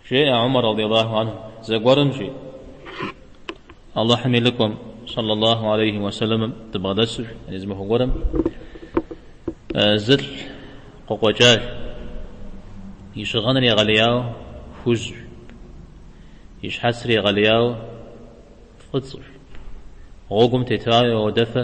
Жеӏэ Умар радиаллаху анху, Зэгуэрым, жи, Алыхьым и лӏыкӏуэм, сэллаллаху алейхи ва сэлэмым, дыбгъэдэсыж, яни зы махуэ гуэрым, зы лӏы къыкъуэкӏащ, и щыгъыныр егъэлеяуэ хужьщ, и щхьэцыр егъэлеяуэ фӏыцӏэщ, гъуэгум тетауэ уэдыфэ,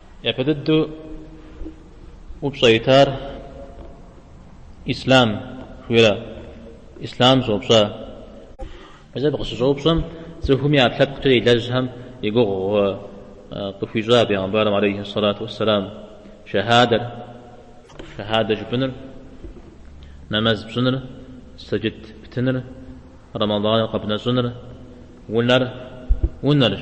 Япэ дыдэу упщӏэ итар ислам хуира? Ислам щӏоупщӏэ. Мис абы къыщыщӏэупщӏэм, цӏыхум и ӏэпкълъэпкъкӏэ илэжьхэм и гугъу къыхуищӏа бегъымбарым алейхи сэлату уэсэлам, шэхьадэр, шэхьадэ жыпӏыныр, нэмэз пщӏыныр, сэджыт птыныр, рэмэдӏаныр къэбнэщӏыныр, унэр, унэрщ.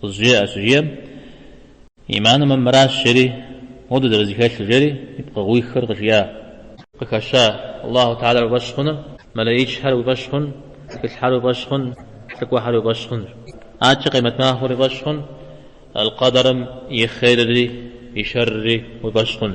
къызжеӏэ щыжиӏэм, Иманым мыращ, жери, модэ зэрызэхэлъыр, жери, и пкъыгъуиххэр къыжиӏа. Къыхэща, Аллаху тэгьалэр уи фӏэщ хъун, мэлэичхэр уи фӏэщ хъун, тхылъхэр уи фӏэщ хъун, лӏыкӏуэхэр уи фӏэщ хъун. Адэкӏэ къемэт махуэр уи фӏэщ хъун, алкъэдэрым и хъерри, и шэрри уи фӏэщ хъун.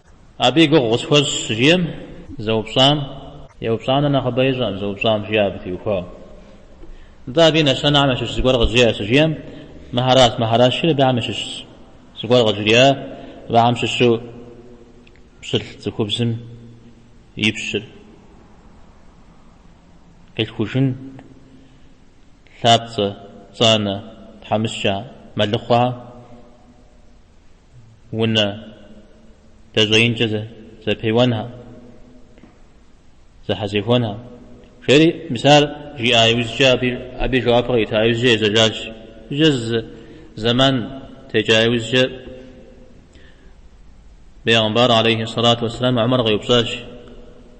Абы и гугъу къысхуэщӏ щыжиӏэм, зэупщӏам, еупщӏам нэхъ нэхъыбэ ищӏэкъым, зэупщӏам, жиӏэ абы теухуауэ. Нтӏэ, абы и нэщэнэхэм ящыщ зыгуэр къызжеӏэ щыжиӏэм, мыхэращ, мыхэращ, жери, абыхэм ящыщ зыгуэр къыжриӏа, абыхэм щыщу пщылӏ цӏыхубзым и пщыр къилъхужын лъапцӏэ, пцӏанэ, тхьэмыщкӏэ, мэлыхъуэхэ. унэ дэщӏеинкӏэ зэпеуэнхэ, зэхьэзэхуэнхэ, жери мис ар жиӏа иужькӏэ абы и жэуапыр кърита иужькӏэ ежьэжащ. Иужькӏэ зы зэман текӏа иужькӏэ Бейгъэмбар алейхи сэлату уэсселам Умар къеупщӏащ,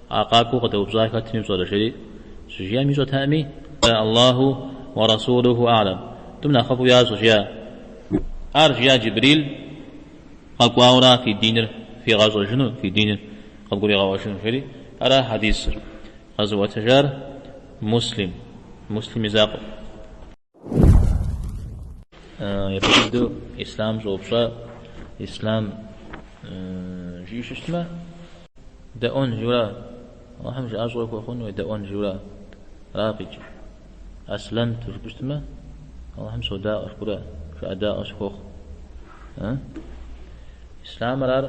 А къакӏуэу къыдэупщӏар хэтми пщӏэрэ? жери щыжиӏэм ищӏэтэкъыми, Аллаху уэ Расулуху а'лэм, Тӏум нэхъыфӏу ящӏэ, жиӏа. Ар жиӏа Джибрил къэкӏуауэ ара фи диныр фигъэщӏэжыну, фи диныр къывгуригъэӏуэжыну, жери. Ара хьэдисыр къэзыӏуэтэжар Муслим, Муслим и закъуэм. Япэ дыдэу ислъам щӏоупщӏэ, ислъам жиӏэу щытмэ, дэӏуэн жиӏэурэ, Алыхьым жыӏэщӏэ ухуэхъун уедэӏуэн жиӏэурэ ара къикӏыр. Аслэмту жыпӏэу щытмэ, Алыхьым содаӏуэ, шкӏурэ, жыӏэдаӏуэ сыхуохъу. Ы? Ислъамыр ар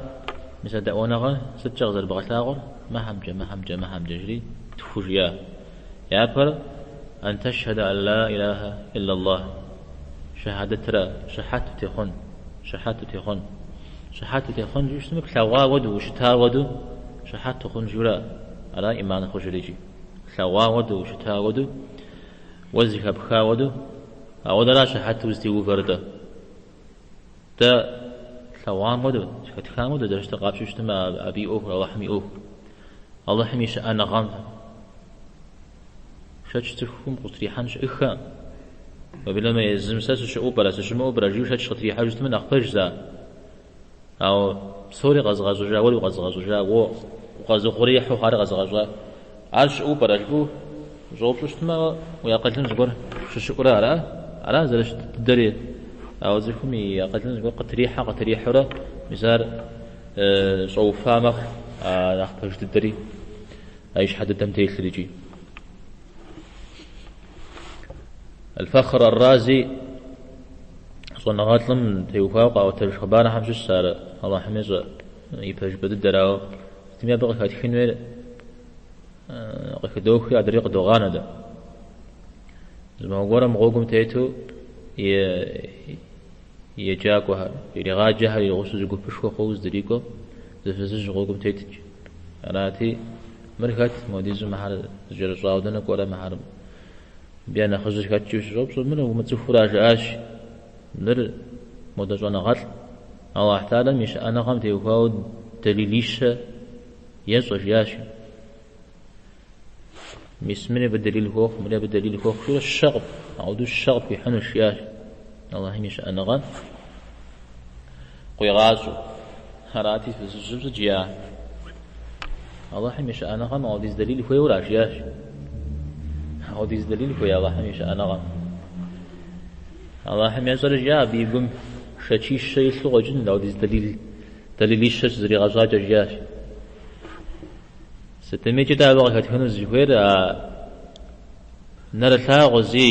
мис а дэӏуэныгъэр сыткӏэ къызэрыбгъэлъагъур? Мыхьэмкӏэ, мыхьэмкӏэ, мыхьэмкӏэ, жри тху жиӏа. Япэр Ан тэшхьэдэ ан ла илахьэ иллаллахь, шэхьэдэтрэ, щыхьэт утехъун, щыхьэт утехъун. Щыхьэт утехъун жиӏэу щытмэ, плъэгъуа уэду, ущыта уэду щыхьэт ухъун жиӏэурэ ара ӏиман хъужыр икӏи. Лъэгъуа уэду, ущыта уэду, уэ зыхэпха уэду, ауэдэращ щыхьэту узытеувэр-тӏэ. Дэ тлъэгъуам уэду, зыхэтхам уэду, зэрыщытыр къапщтэу щытмэ, абы и ӏуэхур, Алыхьым и ӏуэхур, Алыхьым и щыӏэныгъэм шэч цӏыхум къытрихьэн щыӏыхэ, уеблэмэ езым сэ сыщыӏэу пӏэрэ, сыщымыӏэу пӏэрэ жиӏэу шэч къытрихьэжу щытмэ, нэхъ пэжщ зэ. Ауэ псори къэзыгъэщӏыжа уэри укъэзыгъэщӏыжа, уэ укъэзыухъуреихьу хъуари къэзыгъэщӏа, ар щыӏэу пӏэрэ жыпӏэу ущӏэупщӏу щытмэ, уэ уи акъылым зыгуэр щыщӏурэ ара? Ара зэрыщыт дыдэри? Ауэ цӏыхум и акъылым зыгуэр къытрихьэ къытрихьэурэ, мис ар щӏэуфа мэхъу а нэхъ пэж дыдэри а и щхьэ дыдэм телъыр икӏи. Аль-Фахр Ар-Рази щӏэныгъэлӏым теухуауэ къаӏуэтэж хъыбархэм щыщ сэ ар Алыхьым ещӏэ и пэжыпӏэ дыдэрауэ сытми абы къыхэтхын хуейр къыхыдохри адрей къыдогъанэ дэ. Зы махуэ гуэрым гъуэгум тету еджакӏуэхэр, иригъаджэхэр и гъусу зы гупышхуэ хъууэ здрикӏуэм зы фызыжь гъуэгум тетт. Арати, мыр хэт, модизу мыхьэр зыкӏэрыщӏауэ дэнэ кӏуэрэ мыхьэр? Мыбы я нэхъыжьыр хэт? жиӏэу щыщӏэупщӏэм, мыр умыцӏыхуурэ жаӏащ, Мыр модэ щӏэныгъэлӏщ, Алыхь тэхьалэм и щыӏэныгъэм теухуауэ дэлилищэ ещӏэ, жаӏащ. Мис мыри абы дэлил хуохъу, мыри абы дэлил хуохъу, жиӏэурэ щэ къып, ауэдэу щэ къыпхуихьынущ, жиӏащ. Алыхьым и щыӏэныгъэ къуигъащӏэу. Арати, фызыжьым сыт жиӏа? Алыхьым и щыӏэныгъэм ауэдиз дэлил хуейуэ ара? жиӏащ. Ауэдиз дэлил хуей Алыхьым и щыӏэныгъэм. Алыхьым ещӏэрэ жиӏэ абы и гум шэчищэ илъу къэкӏын, ауэдиз дэлил, дэлилищэ щызэригъэщӏакӏэ жиӏащ. Сытмикӏ дэ абы къыхэтхыну дызыхуейр а нэрылъагъу зы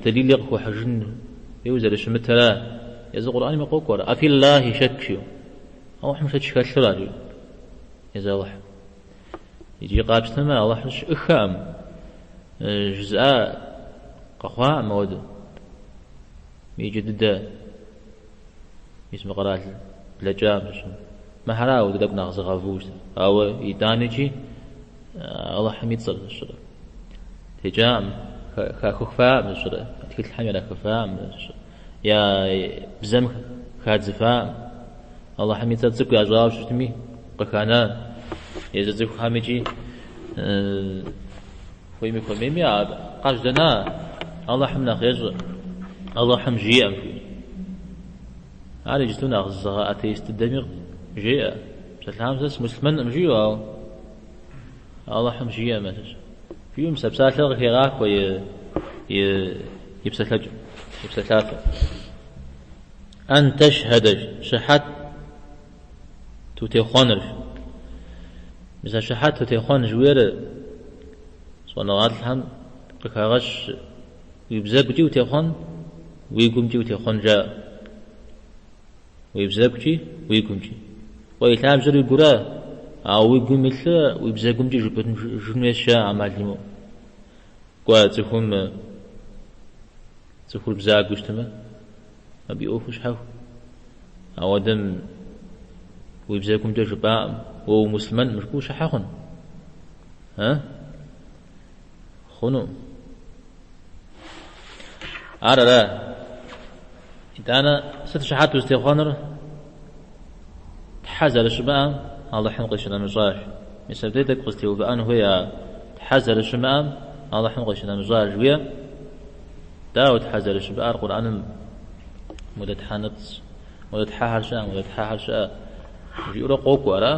дэлили къыхуэхьыжын хуейуэ зэрыщымытра, езы Къурӏэнми къокӏуэ ар, афи Ллахи шэкк, жиӏэу, Алыхьым шэч хэлъу ара, жиӏэу, езы Алыхьым. Иджы къапщтэмэ, Алыхь щыӏыхэкъым жызыӏа къэхъуакъым ауэду. Иджы дыдэ мис мы къэрал блэкӏам дыщӏын. Мыхьэрауэ, ди тӏэкӏу нэхъ зыгъэву щытыр. Ауэ итӏанэкӏи Алыхьым и цӏэм зыщӏырэ. Текӏакъым, хахыхфакъым зыщӏырэ, я тхылъхьэм ирахыфакъым зыщӏырэ, я бзэм хадзыфакъым. Алыхьым и цӏэр цӏыкӏу ящӏауэ щытми, къыхана езы цӏыхухэм икӏи Хуейми хуэмейми а къажьэдэна Алыхьым нэхъ ещӏэ, Алыхьым жиӏэм жиӏэ. Ар иджыту нэхъ зыгъэ атеист дыдэми жеӏэ, псалъэхьам сэ сымыслъмэнкъым жиӏэу, ауэ Алыхьым жиӏэмэ сыщ. Жиӏэу мис а псалъэр къыхегъахуэ и псалъэкӏэм, и псалъафэм. Ан тэшхьэдэ, щыхьэт Утехъуэнырщ. Мис а щыхьэт утехъуэн жыхуиӏэр щӏэныгъэлӏхэм къыхагъэщ уи бзэгукӏи утехъуэн, уи гумкӏи утехъуэн жаӏэ. Уи бзэгукӏи, уи гумкӏи. Кӏуэ и лъабжьэр уи гура, ауэ уи гум илъыр уи бзэгумкӏи жыпӏэжын хуейщ жаӏэ ӏэмал имыӏэу. Кӏуэ цӏыхум цӏыхур бзагуэу щытмэ. Абы и ӏуэхур щхьэхуэ. Ауэдэм уи бзэгумкӏэ жыпӏакъым, уэ умыслъмэн мышкӏуу щхьэ хъун? Э? Хъуну. Ар ара? Итӏанэ сыт щыхьэт узытехъуэнур? Тхьэ зэрыщымыӏэм Алыхьым къищынэмыщӏаж. Мис абдей тӏэкӏу къызэтеувыӏэн хуей ар. Тхьэ зэрыщымыӏэм Алыхьым къищынэмыщӏаж, жиӏэ? Дауэ Тхьэ зэрыщымыӏэр Къурӏэным Модэ Тхьэнэпцӏ, Модэ Тхьэхэр щыӏэ, Модэ Тхьэхэр щыӏэ жиӏэурэ къокӏуэ, ара?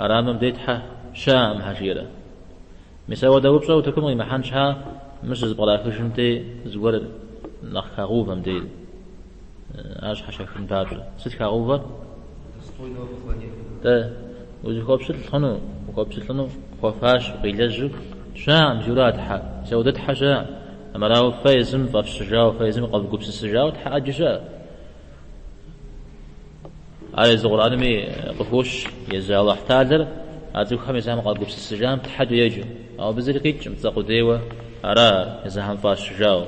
Ара мыбы дей Тхьэ щыӏэкъым щхьэ жиӏэрэ? Мис ауэдэ упщӏэ утыкум къимыхьэн щхьа мыщ щызэпкърахыжым дей зыгуэр нэхъ хагъэувэ мы дейр? Ар щхьэщахын папщӏэ, сыт хагъэувэр? Дэ, узыхуэпщылӏ хъуну, ухуэпщылӏыну хуэфащэу, къилэжьу щыӏэкъым жиӏэу ара Тхьэ. Мис ауэдэ Тхьэ щыӏэкъым. Армырауэ фэ езым фӏэфщыжауэ, фэ езым къэвгупсысыжауэ Тхьэ ӏэджэ щыӏэ. Ар езы Къурӏэнми къыхощ, езы Алыхь Тэӏалэр а цӏыхухэм езыхьэм къагупсысыжам Тхьэ доеджэу. Ауэ абы зыри къикӏкъым, цӏэ къудейуэ ара ар, езыхьэм фӏащыжауэ.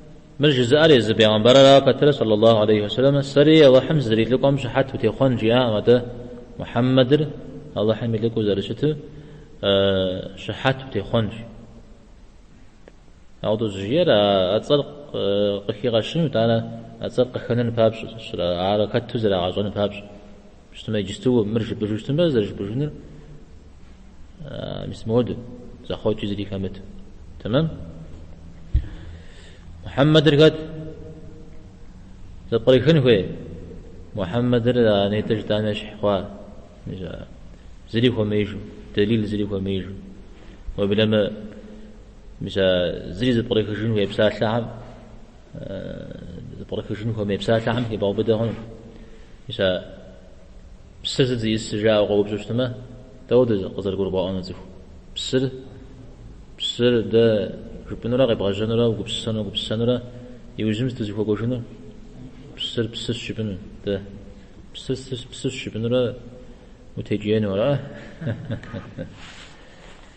Мыр жызыӏэр езы бегъымбарырауэ пэтрэ, саллаллаху алейхи ва сэллэмэ, Сэри Алыхьым сызэрилӏыкӏуэм щыхьэт утехъуэн, жиӏакъым, атӏэ Мухьэммэдыр Алыхьым и лӏыкӏуэу зэрыщыту щыхьэт утехъуэнщ. Ауэдэу щӏыжиӏэр а цӏэр къыхигъэщыну, итӏанэ а цӏэр къыхэнэну папщӏэ, ар хэту зэрагъэщӏэну папщӏэ. Щытмэ, иджысту мыр жыпӏыжу щытмэ, зэрыжыпӏыжынур мис моду, зэхъуэкӏи зыри хэмыту. Тэмэм? Мухьэммэдыр хэт? Зэпкърыхын хуей? Мухьэммэдыр а нетӏэ жытӏам ещхь хъуа? Зыри хуэмеижу, дэлил зыри хуэмеижу. Уеблэмэ, мис а зыри зэпкърыхыжын хуей псалъэхэм Пкърыхыжын хуэмей псалъэхэм хибгъэубыдэ хъуну? Мис а псыр сыт зиӏыс жаӏэу къоупщӏу щытмэ, дауэ дэ къызэрыгурыбгъэӏуэну цӏыху псыр? Псыр дэ жыпӏэнурэ къебгъэжьэнурэ угупсысэну гупсысэнурэ иужьым сыт узыхуэкӏуэжынур? Псыр псыщ жыпӏэну дэ. Псыр псыщ жыпӏэнурэ утекӏиену ара?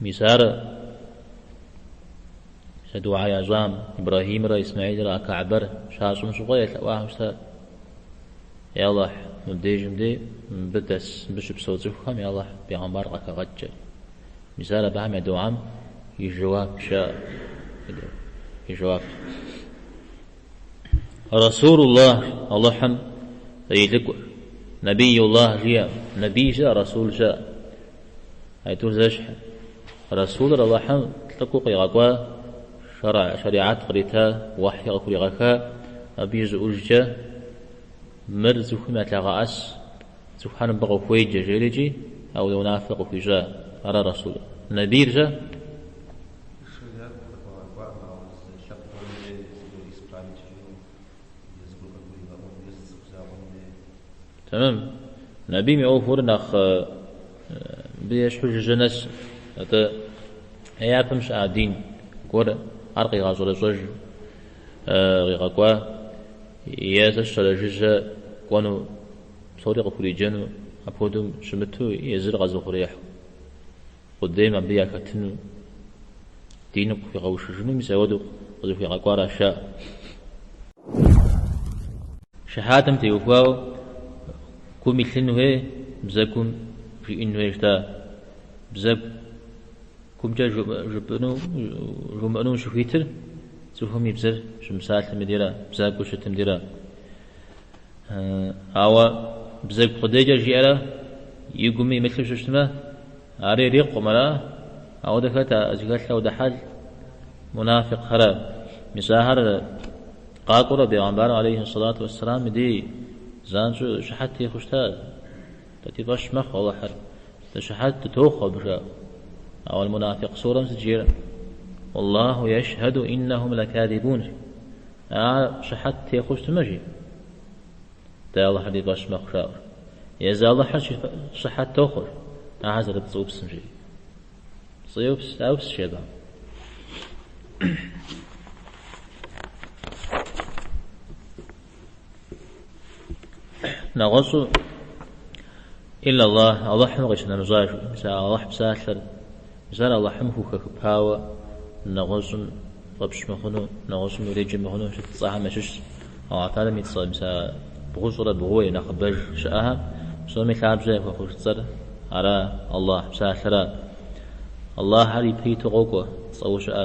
Мис ар сэ дугьэ ящӏам Ибрэхьимрэ Исмэхьилрэ а Каабэр щащӏым щыгъуэ елъэӏуахэу щытар. Е Алыхь, мыбдежым де, мыбы дэс, мыбы щыпсэу цӏыхухэм я Алыхь, бегъымбар къахэгъэкӏ. Мис ар абыхэм я дугьэм и жэуапщ жиӏэ. И жэуап. Расулуллахь, Алыхьым и лӏыкӏуэр, Набийуллахь жиӏэм, Набий щыӏэ, Расул щыӏэ. Аитӏур зэщхь, Расулыр Алыхьым лӏыкӏуэу къигъэкӏуа, шэригьэт кърита, уэхьи къыхуригъэха, абы и щӏыӏужкӏэ, Мыр цӏыхухэм ялъэгъэӏэс, цӏыхухэр мыбы къыхуеджэ, жери икӏи а унэ унафэр къыхуищӏа, ара Расулыр? Набийр-щэ? Шэригьэт къыхуигъэкӏуам, ауэ зы лъэпкъым дей зыгуэр испанкӏэу, е зыгуэр къыгуригъэӏуэну, е зы цӏыху закъуэм дей. Тэмэм. Набийм и ӏуэхур нэхъ абы ещхьу жыжьэ нэс. Атӏэ е япэм щыӏа дин гуэр ар къигъэщӏэрэщӏэжу къигъэкӏуа, е зэ щэрэ жыжьэ кӏуэну, псори къыхуриджэну апхуэдэу щымыту езыр къэзыхъуреихьу. Къудейм абы яхэтыну, диныр къыхуигъэушыжыну мис ауэдэу къызыхуигъэкӏуаращ жаӏэр. Шэхьатым теухуауэ гум илъын хуей, бзэгум жиӏэн хуей жытӏа? Бзэгумкӏэ жыпӏэну, жумыӏэну ущыхуитыр цӏыхум и бзэр щымыпсалъэм и дейрэ, бзагуэу щытым дейрэ? Ауэ бзэгу къудейкӏэ жиӏэрэ и гуми имылъу щыщытмэ, ари ирикъукъым, ара? Ауэ дэ хэт а зыхэлъ ауэдэ хьэл, мунафикъхэра? Мис ахэр къакӏуэурэ Бегъэмбар алейхи сэлату уэсселам и дей занщӏэу щыхьэт техъуэу щыта? Дэ ди фӏэщ мэхъу Алыхьыр, дэ щыхьэт дытохъуэ абы, жаӏэ. Ауэ аль-Мунафикъ сурэм сыт жиӏэр? Уаллаху яшхьэду иннэхум лаказибун. А щыхьэт техъуэу щытмэ, жи? Дэ Алыхьыр ди фӏэщ мэхъу, жаӏэр. Езы Алыхьыр щыхьэт тохъуэр, ахэр зэрыпцӏыупсым, жи? Пцӏыупс, яупс, жи абы. нэгъуэщӏу Илла Аллах, Аллахьым къищынэмыщӏа, жи, мис а Аллахь псалъэр, мис ар Аллахьым хухэхыпауэ нэгъуэщӏым фӏэпщ мыхъуну, нэгъуэщӏым уреджэ мыхъуну щыт цӏэхэм ящыщщ. Аллахь Тэхьалэм и цӏэ, мис а бгъущӏрэ бгъууэ е нэхъыбэж щыӏэхэм псоми лъабжьэ яхуэхъуж цӏэр ара, Аллахь псалъэра. Аллахьыр ипэ иту къокӏуэ цӏэу щыӏэ.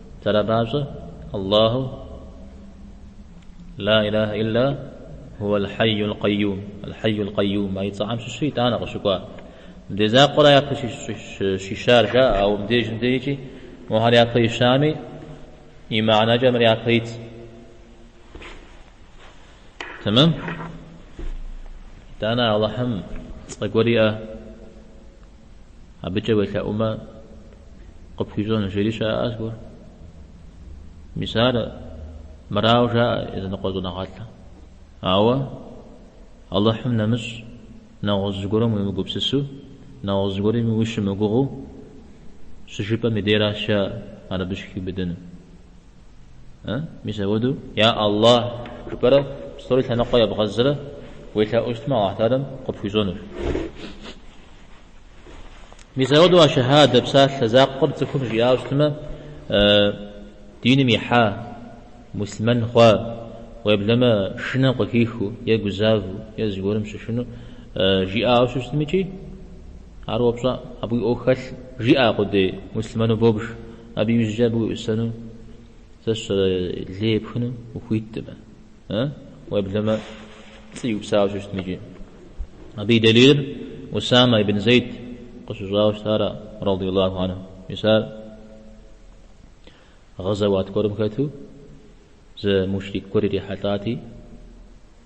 Ара папщӏэ Аллаху Ла илахэ илла гьуэл хьэйюл къэйюм, Аль-Хьэйюл Къэйюм, а и цӏэхьэм щыщу итӏанэ къыщыкӏуа. Мыбдей закъуэра япэ щищар жаӏэ, ауэ мыбдежым дежкӏи мохьэр япэ ищами, и мыхьэнэкӏэ мыр япэ итщ. Тэмэм? Итӏанэ Аллахьым цӏэ гуэр иӏэ. Абыкӏэ уелъэӏумэ, къыпхуищӏэну жери щыӏэ зыгуэр. Мис ар мырауэ жаӏэ языныкъуэ щӏэныгъэлӏым. Ауэ Алыхьым нэмыщӏ, нэгъуэщӏ зыгуэрым уемыгупсысу, нэгъуэщӏ зыгуэрми ущымыгугъыу щыжыпӏэм и деращ жаӏэр абы щыхиубыдэну. Мис апхуэдэу Я Аллахь жыпӏэрэ псори лъэныкъуэ ебгъэзрэ уелъэӏуу щытмэ, Аллахь Тэхьалэм къыпхуищӏэнущ. Мис апхуэдэу а щэхьэдэ псалъэ закъуэр цӏыхум жиӏауэ щытмэ, диным ихьа, муслъымэн хъуа, уеблэмэ шынэм къыхихыу е гузавэу е зыгуэрым щышыну жиӏауэ щыщытми икӏи, ар уэ пщӏэ, абы уи ӏуэху хэлъ, жиӏа къудей муслъымэну бобж. Абы иужькӏэ абы уеӏусэну сэ сщӏэрэ лей епхыну ухуиткъым, а? Уеблэмэ пцӏы иупсауэ щыщытми икӏи. Абы и дэлилыр Усамэ ибн Зейд къыщыщӏауэ щытара, ради Аллаху анху. Мис ар гъэзэуат гуэрым хэту зы мушрик гуэр ирихьэлӏати,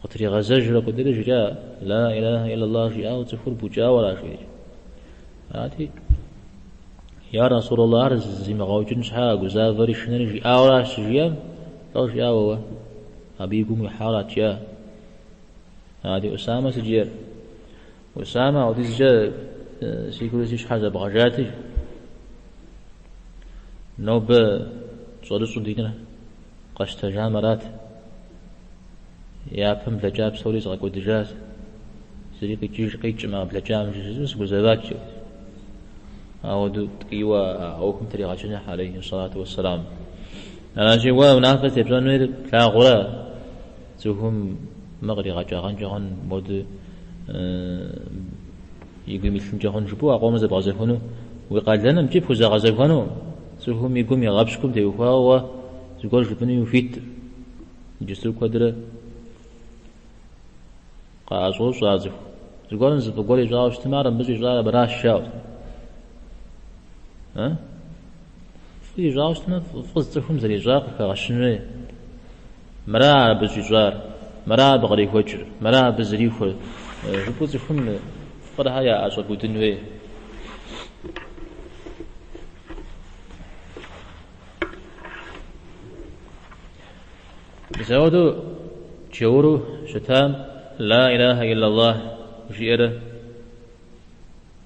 Къытригъэзэжрэ куэдрэ жиӏа, Ла илахьэ иллаллахь жиӏауэ цӏыхур букӏауэращ, жи. Арати, Я Расулаллахь, ар зимыгъэукӏын щхьа гузавэри шынэри жиӏауэращ щыжиӏэм, лӏо, жиӏа, уэ абы и гум уихьауэ ара-тӏэ. Арати, Усамэ сыт жер. Усамэ апхуэдизкӏэ си гур си щхьэр зэбгъэжати, нобэ щӏэрыщӏу диныр къэсщтэжам арат. Япэм блэкӏа псори згъэкӏуэдыжащ. Зыри къикӏыж, къикӏмэ а блэкӏам жысӏэу сыгузэват. Ауэдэу ткӏийуэ а ӏуэхум тригъэчыныхьа алейхи салату уэссэлам. Аращи, уэ унафэ зытепщӏэнур плъагъурэ? Цӏыхум мыр къригъэкӏагъэнкӏэ хъун, модэ и гум илъынкӏэ хъун жыпӏэу а къомыр зэбгъэзэхуну, уи къалэным икӏи пхузэгъэзэхуэну цӏыхум и гум игъэпщкӏум теухуауэ уэ зыгуэр жыпӏэнуи ухуитым. Иджысту куэдрэ къаӏэщӏощӏэ ар цӏыху. Зыгуэрым зы фӏы гуэр ищӏауэ щытмэ, ар мыбы щӏищӏар абыращ, жаӏэу. Фӏы ищӏауэ щытмэ, фӏы цӏыхум зэрищӏар къыхэгъэщын хуей, мыра абы щӏищӏар, мыра абы кърихуэкӏыр, мыра абы зэрихуэр жыпӏэу цӏыхум фӏырхэр яӏэщӏэбудын хуей. Мис ауэдэу джэуру щытам Ла илаха иллаллах жиӏэрэ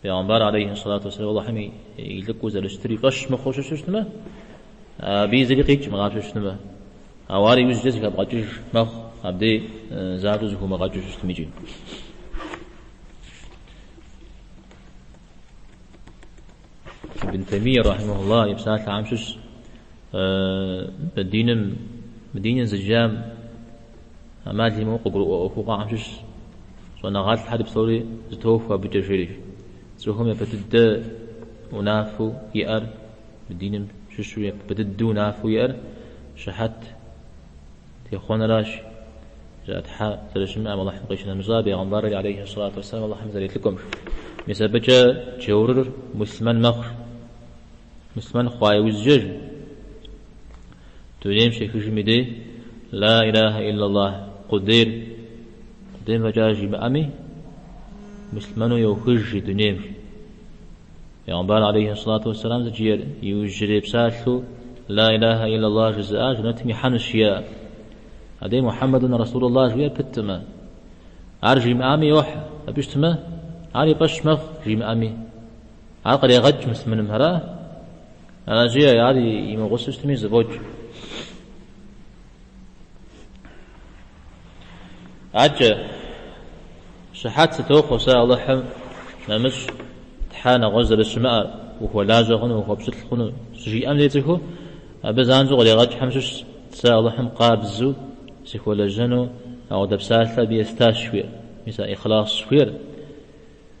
Пейгъэмбар алейхи сэлату уассалам Аллахьым и лӏыкӏуэу зэрыщытыр и фӏэщ мыхъуу щыту щытмэ, абыи зыри къикӏ мыгъапщэу щытмэ, ауэ ар иужькӏэ зэхэбгъэкӏыж мэхъу, абдей занщӏэу зэхыумыгъэкӏыу щытым икӏи. Ибн Таймие рахьимахулла и псалъэхэм щыщ мы диным, мы диныр зыджам амал имыӏэу къыгурыӏуэ ӏуэхугъуэхэм щыщ щӏэныгъэлӏхьэри псори зэтохуэ абыкӏэ жери. Цӏыхум япэ дыдэ унафэу иӏэр мы диным щыщу япэ дыдэу унафэу иӏэр щыхьэт Техъуэныращ, жаӏэ, Тхьэ зэрыщымыӏэм Алыхьым къищынэмыщӏа Бегъымбарри алейхьи сэлату уэсэлам Алыхьым зэрилӏыкӏуэм. Мис абыкӏэ джэурыр муслъымэн мэхъур. Муслъымэн хъуа иужькӏэ, дунейм щехыжым и дей, Ла илахьэ иллаллахь, къудейр къудейм фӏэкӏа жимыӏэми, муслъымэну йохыж и дунейм. Пегъэмбар алейхи салату уассалам сыт жиӏэр иужьрей псалъэу Ла илаха иллаллах жызыӏар жэнэтым ихьэнущ жиӏэ. Адэи Мухьэммэдун Расулуллах жиӏэу пытым, ар жимыӏами йохьэ, абы щытмэ, ар и фӏэщ мэхъу жимыӏэми. Ар кърегъэкӏ муслъымэным, ара? Аращи, ар имыгъусэу щытми зэфӏокӏ. Акӏэ, щыхьэт сытохъуэ сэ Алыхьым нэмыщӏ Тхьэ нэгъуэщӏ зэрыщымыӏэр, ухуэлажьэ хъуну, ухуэпщылӏ хъуну щыжиӏэм дей цӏыхум, абы занщӏэу къыригъэкӏхэм щыщщ сэ Алыхьым къабзу сыхуэлэжьэну, ауэдэ псалъэ абы естащ жыхуиӏэр. Мис а ихьлас жыхуиӏэр.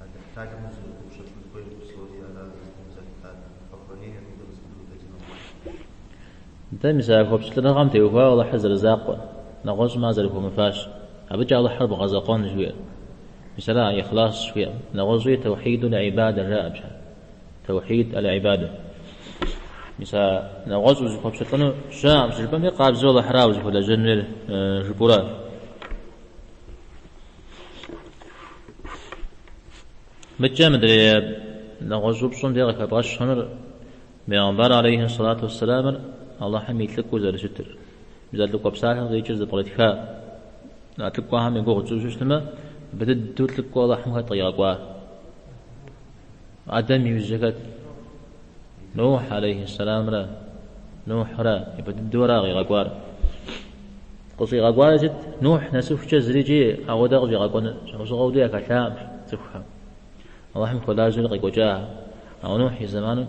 А дыхьталым узэрыгуупщэкӏын хуейр псори ара зыцӏэм зэхьтар, Хъэхъуэрейр абы къызыхудэутэ ди нэгъуэщӏщ. Нтӏэ, мис а хуэпщылӏыныгъэм теухуауэ Алыхьыр зэрызакъуэр, нэгъуэщӏым ар зэрыхуэмыфащ. Абыкӏэ Алыхьыр бгъэзэкъуэн хуей. Мис ара ихьлас жыхуиӏэр. Нэгъуэщӏи Таухьидул ӏибадэ жаӏэ пщӏэ? Таухьид аль-ӏибадэ. Мис а нэгъуэщӏ узыхуэпщылӏыну щыӏэкъым щыжыпӏэмкӏэ къабзэу Алыхьыра узыхуэлэжьэнур жыпӏэу ара. Мыдкӏэ мыдрей нэгъуэщӏ упщӏэм де къыхэбгъэщынур Бегъымбар алейхи сэлату уэсселамыр Алыхьым и лӏыкӏуу зэрыщытыр, мис а лӏыкӏуэ псалъэм къикӏыр зэпкърытха, лӏыкӏуэхэм и гугъу тщӏыжу щытмэ, япэ дыдэу лӏыкӏуэ Алыхьым хэт къигъэкӏуа? Адэм и ужь хэт? Нухь, алейхи сэлямра, Нухьра япэ дыдэурэ къигъэкӏуар. Къыщӏигъэкӏуари сыт? Нухь нэсыхукӏэ зыри икӏи ауэдэ къыщӏигъэкӏуэну щхьэусыгъуэ уэдэ яхэлъаӏым цӏыхухэм. Алыхьым хуэлажьэурэ къекӏуэкӏа, ауэ Нухь и зэманым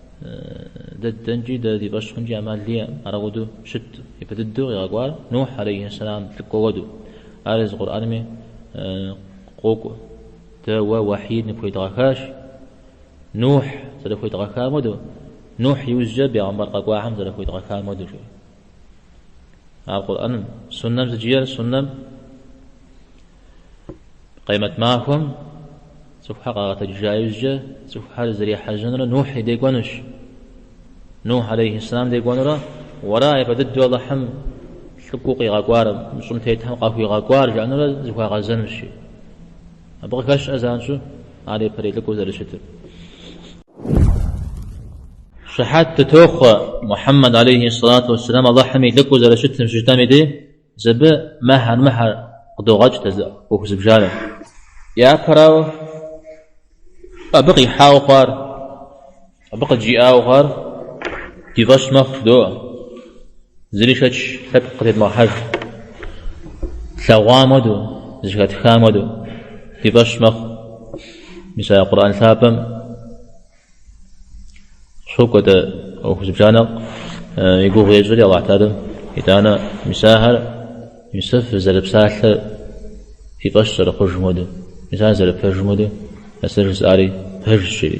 Дэ дэнкӏи, дэ ди фӏэщ хъункӏи ӏэмал иӏэ. Ар ауэдэу щытт япэ дыдэу къигъэкӏуар Нухь алейхьэссэлам лӏыкӏуэ уэду. Ар езы Къурӏэнми къокӏуэ, Дэ уэ уэхьий ныпхуедгъэхащ, Нухь зэрыхуедгъэхам уэду, Нухь иужькӏэ бегъымбар къэкӏуахэм зэрыхуедгъэхам уэду, жери. Ар Къурӏэным, Суннэм сыт жиӏэр? Суннэм Къиямэт махуэм цӏыхухэр къагъэтэджыжа иужькӏэ цӏыхухэр зэрехьэжьэнурэ Нухь и де кӏуэнущ. Нухь алейхьисслам де кӏуэнурэ уэра япэ дыдэу Алыхьым лӏыкӏуэу къигъэкӏуар, мы щӏым тетхэм къахуигъэкӏуар жаӏэнурэ зыхуагъэзэнущи. Абы къыхощ занщӏэу ар япэрей лӏыкӏуэу зэрыщытыр. Щыхьэт дытохъуэ Мухьэммэд алейхи сэлату уэсселам Алыхьым и лӏыкӏуэу зэрыщытым щыжытӏэм и деж, абы мыхэр мыхэр къыдогъэкӏ дэ ӏуэху зыбжанэ. Япэрауэ, абы къихьауэ хъуар, абы къыджиӏауэ хъуар ди фӏэщ мэхъу, жыдоӏэ. Зыри шэч лъэпкъ къытедмыхьэж. Тлъэгъуам хуэдэу, зэхэтхам хуэдэу ди фӏэщ мэхъу. Мис а Къурӏэн лъапӏэм щокӏуэ дэ ӏуэху зыбжанэ и гугъу ещӏри Аллахь Тэхьалэ. Итӏанэ мис ахэр мис фызэрыпсалъэр фи фӏэщ зэрыхъужым хуэдэу, мис ар зэрыпэжым хуэдэу, а сэ жысӏари пэжщ, жери.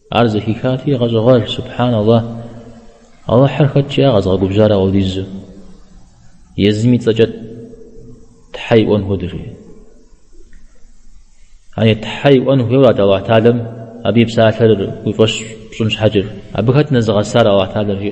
Ар зэхихати, гъэщӏэгъуэж, Субхьан Аллахь! Алыхьыр хэт щӏа къэзгъэгубжьар апхуэдизу? Езым и цӏэкӏэ Тхьэ иӏуэн хуэдэ жери. Яни Тхьэ иӏуэн хуейуэ арат Аллахь Тэхьалэм, абы и псалъэр уи фӏэщ пщӏын щхьэкӏэ, абы хэт нэзыгъэсар Аллахь Тэхьалэр жи.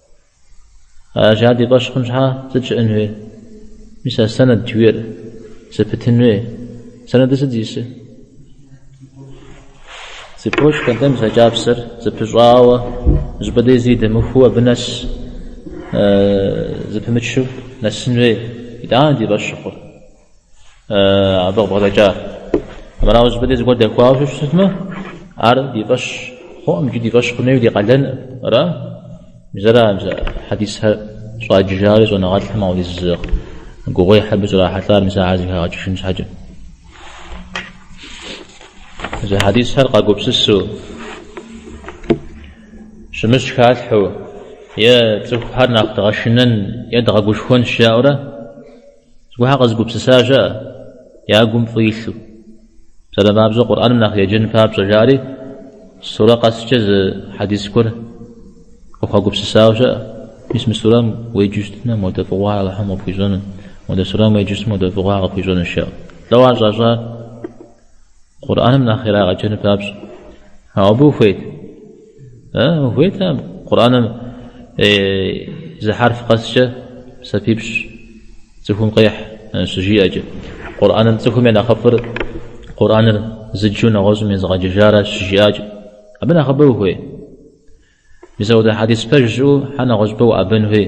Аращи, ар ди фӏэщ хъун щхьэ сыт щыӏэн хуей? Мис а сэнэд жиӏэр зэпытын хуей? Сэнэдыр сыт зисы? Цепочкэ нтӏэ, мис а кӏапсэр зэпыщӏауэ, зыпӏэ дей зыри дэмыхуу абы нэс зэпымычу нэсын хуей. Итӏанэ ди фӏэщ щыхъур. Абы къыбгъэдэкӏар, армырауэ зыпӏэ дей зыгуэр дэхуауэ щыщытмэ, ар ди фӏэщ хъуӏым икӏи ди фӏэщ хъун хуейуэ ди къалэнӏым. Ара, мис ара хьэдисхэр щӏаджыжари щӏэныгъэлӏхэм апхуэдиз зы гугъуехь абы щӏрахьэлӏар мис ахэр зыхагъэкӏыжын щхьэкӏэ. Езы хьэдисхэр къагупсысу, щымыщ халъхьэу, е цӏыхухэр нэхъ дгъэшынэн е дгъэгушхуэнщ жаӏэурэ, Зыгуэрхэр къэзыгупсыса щыӏэ, я гум фӏы илъу. Псалъэм папщӏэ, Къурӏэным нэхъ еджэн папщӏэ, жари, сурэ къэскӏэ зы хьэдис гуэр къыхуагупсысауэ щыӏэ. Мис мы сурэм уеджэу щытмэ, модэ фӏыгъуэ Алыхьым къыпхуищӏэну, модэ сурэм уеджэу щытмэ, модэ фӏыгъуэ ар къыпхуищӏэнущ жаӏэу. Лӏо ар щӏащӏар Къурӏэным нэхъ ирагъэджэну папщӏэ. Ауэ абы ухуейт. Хуейт ар Къурӏэным зы хьэрф къэскӏэ псапипщӏ цӏыхум къехь щыжиӏэкӏэ. Къурӏэным цӏыхум я нэхъыфӏыр Къурӏэныр зыджу нэгъуэщӏым езыгъэджыжаращ щыжиӏакӏэ. Абы нэхъыбэ ухуей? Мис апхуэдэ хьэдис пэж щыӏэу хьэ нэгъуэщӏыпӏэ уӏэбэн хуей?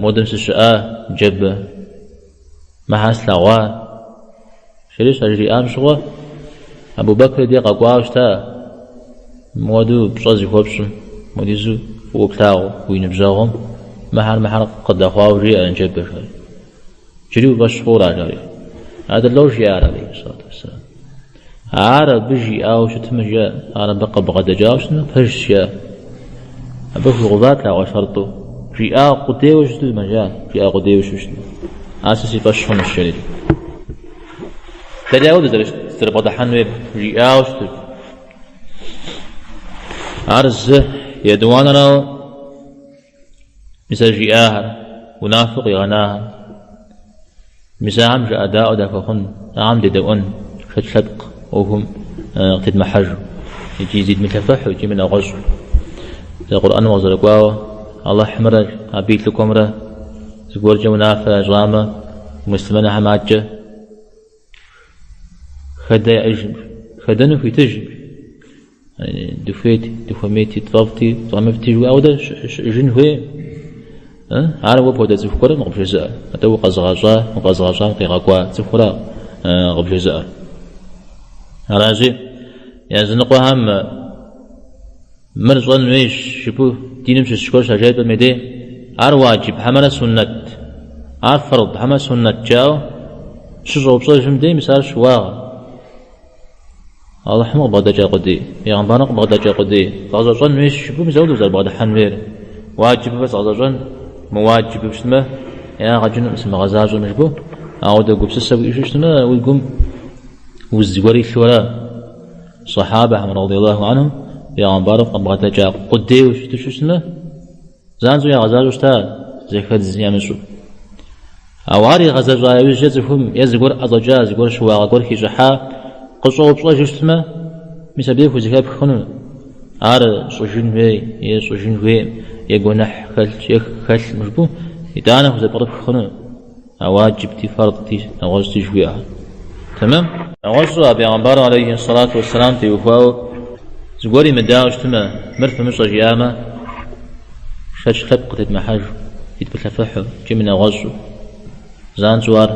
Модым сыщыӏа джэбэ? Мыхэр слъэгъуа? Жери щажриӏам щыгъуэ, Абубэкри дей къэкӏуауэ щыта, мыуэду пщӏэ зыхуэпщӏым, мыдизу фӏыуэ плъагъу уи ныбжьэгъум, мыхэр мыхэр къыдэхъуауэ жиӏэ джэбэ, жери. Джыри уи фӏэщ хъура, жери. Атӏэ лӏо жиӏар, алейхи сэлату уэссэлам. Ар абы жиӏауэ щытмэ, жаӏ, ар абы къыбгъэдэкӏауэ щытмэ, пэжщ, жаӏ. Абы хуигъэуват ар шарту. Жиӏа къудейуэ щытмэ, жаӏ, жиӏа къудейуэ щыщытмэ, ар сэ си фӏэщ хъунущ, жери. Дэри ауэ дызэрыбгъэдыхьэн хуейр, жиӏауэ щытырт. Ар зы етӏуанэрауэ. Мис а жиӏахэр унафэу къигъэнахэр. Мис ахэм жыӏэдаӏуэ дахуэхъун, ахэм дедэӏуэн шэч лъэпкъ ӏуэхум къытедмыхьэжу икӏи зидмылъэфыхьу икӏи мынэгъуэщӏу. Зэ Къурӏэным къызэрыкӏуауэ, Алыхьымрэ Абы и лӏыкӏуэмрэ зыгуэркӏэ унафэ ящӏамэ, муслъымэнхэм адэкӏэ хэдэ яӏэжым, хэдэну хуитыжым. Дыхуейти, дыхуэмейти, тфӏэфӏти, тфӏэмыфӏти жыхуиӏэ ауэдэ щыӏэжын хуейм. Ар уэ пхуэдэ цӏыху гуэрым къыбжезыӏэр. Атӏэ укъэзыгъэщӏа, укъэзыгъэщӏам къигъэкӏуа цӏыхура къыбжезыӏэр. Аращи, языныкъуэхэм мыр щӏэн хуейщ жыпӏэу диным щыщ гуэр щажепӏэм дей, ар уаджиб хьэмэрэ суннэт, ар фэрд хьэмэрэ суннэт жаӏэу щыщӏэупщӏэжым дей мис ар щыуагъэ. Алыхьым къыбгъэдэкӏа къудей, пегъэмбарым къыбгъэдэкӏа къудей згъэзэщӏэн уейщ жыпӏэу мис ауэ дызэрыбгъэдыхьэн хуейр. Уаджибмэ згъэзэщӏэн, мыуаджибу щытмэ, ягъэ кӏынукъым сымыгъэзащӏэм жыпӏэу, ауэдэ гупсысэ уиӏэу щытмэ, уи гум уз зыгуэр илъу ара? Сыхьабэхэм, радийаллаху анхум, пегъэмбарым къыбгъэдэкӏа къудейуэ щыту щытмэ, Занщӏэу ягъэзащӏэу щыта зэхэдз ямыщӏу. Ауэ ар игъэзэщӏа иужькӏэ цӏыхум е зыгуэр ӏэщӏэкӏа, зыгуэр щыуагъэ гуэр хищӏыхьа къыщӏэупщӏэжу щытмэ, мис абдей хузэхэпх хъуну? Ар щӏыжын хуей е щӏыжын хуейм, е гуэныхь хэлъ е хэлъым жыпӏу, итӏанэ хузэпкърыпх хъуну? А уаджибти, фардти, нэгъуэщӏти жыхуиӏэхэр. Тэмэм? Нэгъуэщӏу а пегъэмбар алейхи ссалату уэсселам теухуауэ зыгуэр имыдауэ щытмэ, мыр фымыщӏэ жиӏамэ, шэч лъэпкъ къытедмыхьэжу, зидмылъэфыхьу икӏи мынэгъуэщӏу, занщӏэу ар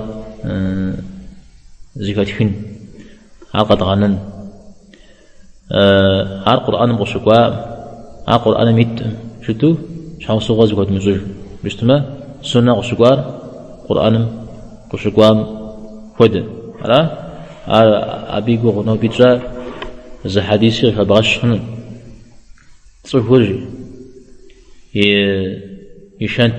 зыхэтхын, ар къэдгъэнэн. ар Къурӏэным къыщыкӏуаӏым, ар Къурӏэным итӏым жытӏу щхьэусыгъуэ зыхуэдмыщӏыжу щытмэ, суннэ къыщыкӏуар Къурӏэным къыщыкӏуам хуэдэ. Ара? Ар абы и гугъу ноби тщӏа зы хьэдиси къыхэбгъэщ хъуну. Цӏыхур и шэнт.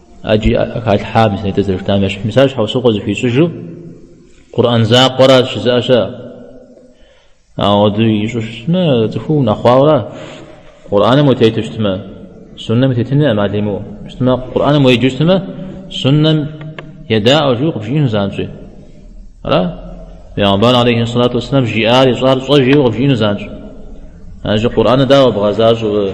Аджи халъхьам и санитӏыр зэрыштам ящыщ Мисал щхьэусыгъуэ зыхуищӏыжу Къурӏэн закъуэрэ щызыӏэщэ. Ауэ ди ищӏу щытмэ, цӏыху унэхъуауэ Къурӏэным утету щытмэ, суннэм утетыну ӏэмал имыӏэу щытмэ, Къурӏэным уеджу щытмэ, суннэм едаӏуэ жиӏэу къыбжиӏэну занщӏи. Ара? Пейгъэмбар алейхи салату вассалам жиӏар ищӏар щӏэ жиӏэу къыбжиӏэну занщӏ. Аджи Къурӏэныр дауэ бгъэзащӏэу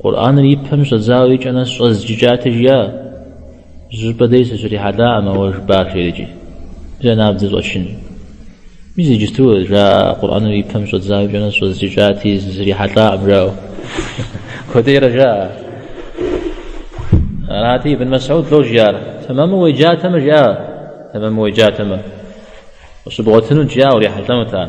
Къурӏэныр и пэм щӏэдзауэ икӏэ нэс щӏэзджыкӏати жиӏа. Зыщӏыпӏэ дей сыщрихьэлӏакъым а уэ жыпӏар жери. Зэ набдзэ щӏэчын. Мис иджысту жаӏэ Къурӏэныр и пэм щӏэдзауэ икӏэ нэс щӏэзджыкӏати сыщрихьэлӏакъым жаӏэу. Куэдейрэ жаӏэ. Арати Ибн Масӏуд лӏо жиӏар. Тэмэму уеджатэмэ жиӏа? Тэмэму уеджатэмэ. Къыщыбгъуэтынут жиӏа урихьэлӏэнут ар.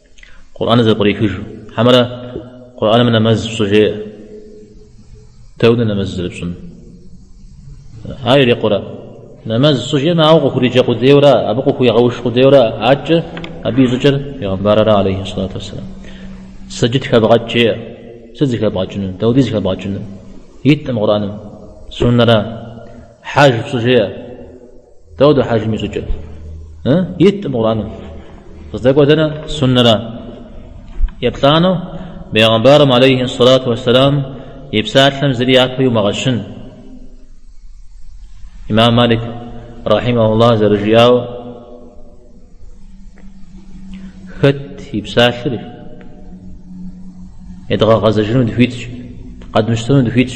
Къурӏэныр зэпкърихыжу. Хьэмэрэ Къурӏэным нэмэз пщӏы жеӏэ? Дауэ дэ нэмэз зэрыпщӏын. Ар ирикъурэ? Нэмэз пщӏы жеӏэмэ, ауэ укъыхуриджэ къудейуэ ара, абы укъыхуигъэуш къудейуэ ара, адэкӏэ абы и щӏыкӏэр Пейгъэмбарыра алейхи салату уассалам. Сэджыт хэбгъэкӏ жеӏэ. Сыт зыхэбгъэкӏыну? Дауэ дэ зыхэбгъэкӏыну? Иткъым Къурӏэным. Суннэра? Хьэж пщӏы жеӏэ. Дауэ дэ хьэжым и щӏыкӏэр? Иткъым Къурӏэным. Къыздэкӏуэ дэнэ? Суннэра. Еплӏанэу Бейгъэмбарым алейхи сэлату уассалам и псалъэм зыри япэ иумыгъэщын. Имам Малик рахьимахуллах зэрыжиӏауэ хэт и псалъэри едгъэгъэзэжыну дыхуитщ, къэдмыщтэну дыхуитщ.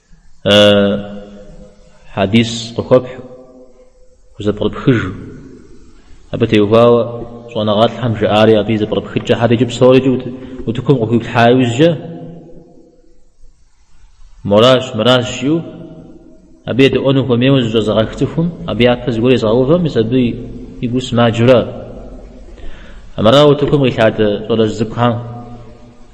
Хьэдис къыхуэпхь, хузэпкърыпхыж. Абы теухуауэ щӏэныгъэлӏхэм жаӏари абы и зэпкърыпхыкӏэхэр иджы псори утыкум къыхуиплъхьа иужькӏэ моращ, мыращ жиӏэу абы едэӏуэну хуэмейуэ зыщӏэзыгъэх цӏыхум, абы япэ зыгуэр езгъэувэм, мис абы и гу сымаджэу ара. Армыра утыкум къилъадэ щӏалэжь цӏыкӏухэм?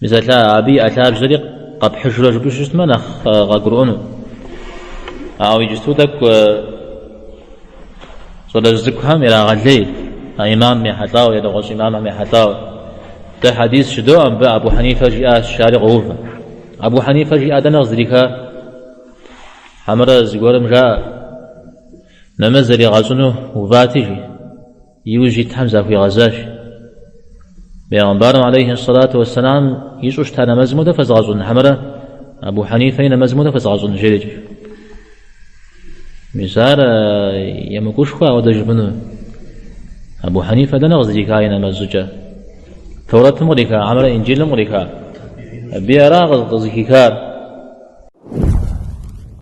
Мисалъа, абы иӏэ лъабжьэри къэпхьыжурэ жыпӏэу щытмэ, нэхъ къагурыӏуэну. Ауэ иджысту тӏэкӏу щӏалэжь цӏыкӏухэм ирагъэлей а имам ехьэлӏауэ, нэгъуэщӏ имамхэм ехьэлӏауэ. Дэ хьэдис жыдоӏэ, мыбы Абу Хьэнифэ жиӏащ жари къоувэ. Абу Хьэнифэ жиӏа дэнэ къыздриха? Хьэмэрэ зыгуэрым жаӏэ, нэмэз зэригъэщӏыну увати, жи. И ужь итхэм захуигъэзащ. Бегъымбарым алейхи сэлату уэсэлам ищӏу щыта нэмэзым хуэдэ фэзыгъэщӏын хьэмэрэ Абу Хьэнифэ и нэмэзым хуэдэ фэзыгъэщӏын жерикӏ. Мис ар емыкӏушхуэ ауэдэ жыпӏэну. Абу Хьэнифэ дэнэ къыздриха и нэмэз щӏыкӏэ? Таурэтым къриха хьэмэрэ Инджылым къриха? Абы ара къызыхихар?